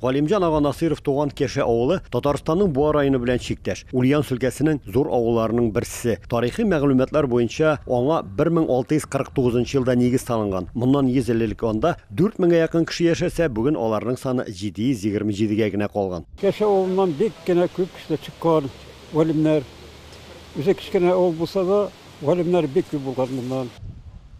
Галимҗан ага Насыйров туган Кеше авылы Татарстанның Буа районы белән чиктәш, Ульяновск өлкәсенең зур авылларының берсе. Тарихи мәгълүматлар буенча, аңа 1649 елда нигез салынган. Моннан 100 ел элек анда 4 меңгә якын кеше яшәсә, бүген аларның саны 727 гә генә калган. Кеше авылыннан бик кенә күп кешеләр чыккан, галимнәр. Үзе кечкенә авыл булса да. Галимнәр бик күп булган монда.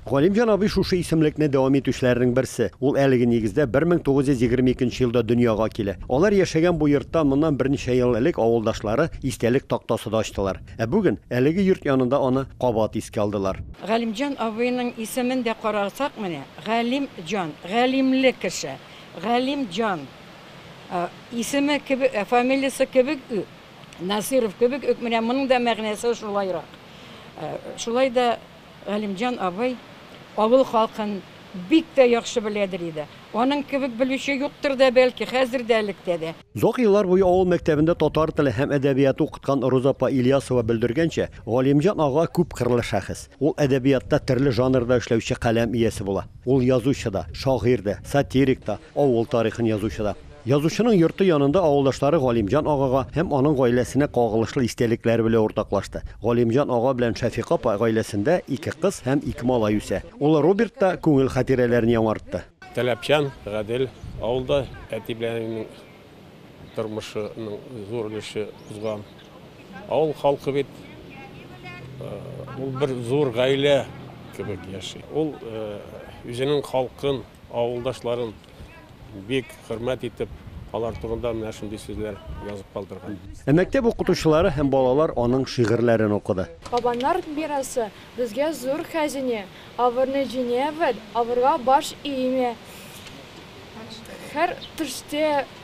Галимҗан абый шушы исемлекне дәвам итүчеләрнең берсе. Ул әлеге нигездә 1922 нче елда дөньяга килә. Алар яшәгән бу йорттан моннан берничә ел элек авылдашлары истәлек тактасы да ачтылар. Ә бүген, әлеге йорт янында аны кабат искә алдылар. Галимҗан абыйның исемен дә карасак, менә, Галим җан, галимле кеше. Галим җан исеме кебек, фамилиясе кебек үк, Насыйров кебек үк менә моның да мәгънәсе шулайрак. Шулай да Галимҗан абый авыл халкын бик тә яхшы беләдер иде. Аның кебек белүче юктыр да, бәлки, хәзер дә, электә дә. Озак еллар буе авыл мәктәбендә татар теле һәм әдәбияты укыткан Роза апа Ильясова белдергәнчә, Галимҗан ага күпкырлы шәхес. Ул әдәбиятта төрле жанрда эшләүче каләм иясе була. Ул язучы да, шагыйрь дә, сатирик та, авыл тарихын язучы да. Язучының йорты янында авылдашлары Галимҗан агага һәм аның гаиләсенә кагылышлы истәлекләре белән уртаклашты. Галимҗан ага белән Шәфикә апа гаиләсендә ике кыз һәм ике малай үсә. Улы Роберт та күңел хатирәләрен яңартты. Таләпчән Гадел авылда әти белән әнинең тормышының зур өлеше узган. Авыл халкы бит ул бер зур гаилә кебек яши. Ул үзенең халкын, авылдашларын. бик хөрмәт итеп, алар турында менә шундый сүзләр язып калдырган. Ә мәктәп укытучылары һәм балалар аның шигырьләрен укыды. Кабаннар мирасы, безгә зур хәзинә, Авырны җиңәбез, авырга баш иемә. Һәр төштә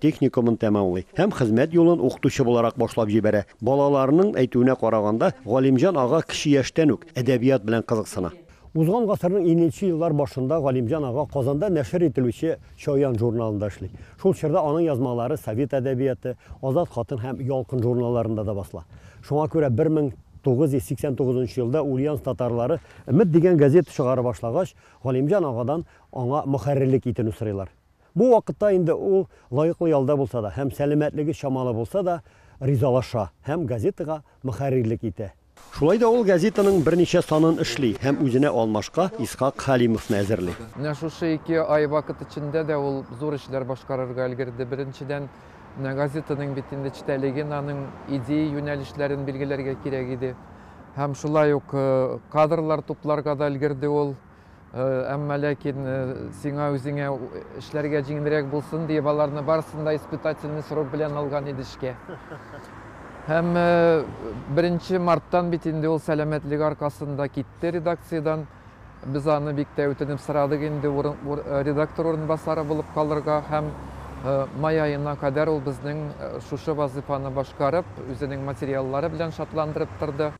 техникумын тәмамлый һәм хезмәт юлын укытучы буларак башлап җибәрә. Балаларының әйтүенә караганда, Галимҗан ага кече яшьтән үк әдәбият белән кызыксына. Узган гасырның иненче еллар башында Галимҗан ага Казанда нәшер ителүче Чаян журналында эшли. Шул чорда аның язмалары Совет әдәбияты, Азат хатын һәм Ялкын журналларында да басыла. Шуңа күрә 1989 нчы елда Ульяновск татарлары Өмет дигән газета чыгарып башлагач, Галимҗан агадан аңа мөхәррирлек итүне сорыйлар. Бу вакытта инде ул, лаеклы ялда булса да һәм сәламәтлеге чамалы булса да, ризалаша һәм газетага мөхәррирлек итә. Шулай да ул газетаның берничә санын эшли һәм үзенә алмашка Исхак Хәлимовны әзерли. Менә шушы ике ай вакыт эчендә дә ул зур эшләр башкарырга өлгерде. Беренчедән, менә газетаның бит инде эчтәлеген, аның идея юнәлешләрен билгеләргә кирәк иде. Һәм шулай ук кадрлар тупларга да өлгерде ул. Әмма ләкин сиңа үзеңә эшләргә җиңелрәк булсын диеп, аларны барысын да испытательный срок белән алган иде эшкә. Һәм беренче марттан бит инде ул сәламәтлеге аркасында китте редакциядән. Без аны бик тә үтенеп сорадык инде редактор урынбасары булып калырга һәм май аена кадәр ул безнең шушы вазыйфаны башкарып, үзенең материаллары белән шатландырып торды.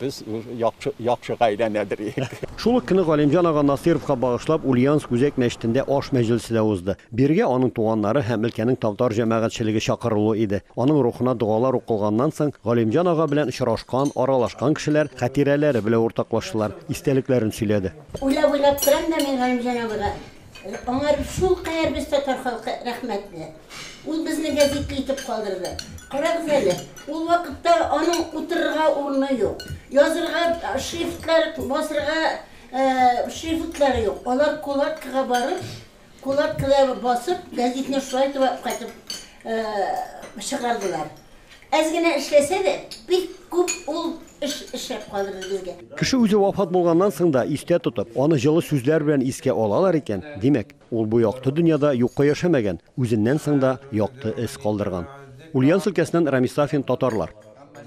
Без яхшы яхшы гаиләнәдер иек. Шул ук көнне Галимҗан ага Насыйровка багышлап Ульяновск үзәк мәчетендә аш мәҗлесе дә узды. Бирегә аның туганнары һәм өлкәнең тавтар җәмәгатьчелеге чакырылуы иде. Аның рухына догалар укылганнан соң, Галимҗан ага белән очрашкан, аралашкан кешеләр хатирәләре белә уртаклаштылар, истәлекләрен сөйләде. Уйлап-уйлап торам да мин Галимҗан абыйга Аңар шулкадәр без татар халкы рәхмәтле. Ул безне гәзитле итеп калдырды. Карагыз әле, ул вакытта аның утырырга урыны юк, язырга шрифтлар, басырга шрифтлары юк. Алар кулаткага барып, кулаткада басып, гәзитне шулай төбәп кайтып чыгардылар. Әз генә эшләсә дә, бик күп ул эш эшләп калдырды безгә. Кеше үзе вафат булганнан соң да истә тотып, аны җылы сүзләр белән искә алалар икән, димәк, ул бу якты дөньяда юкка яшәмәгән, үзеннән соң да якты эз калдырган. Ульяновск өлкәсеннән Рамис Сафин, Татарлар.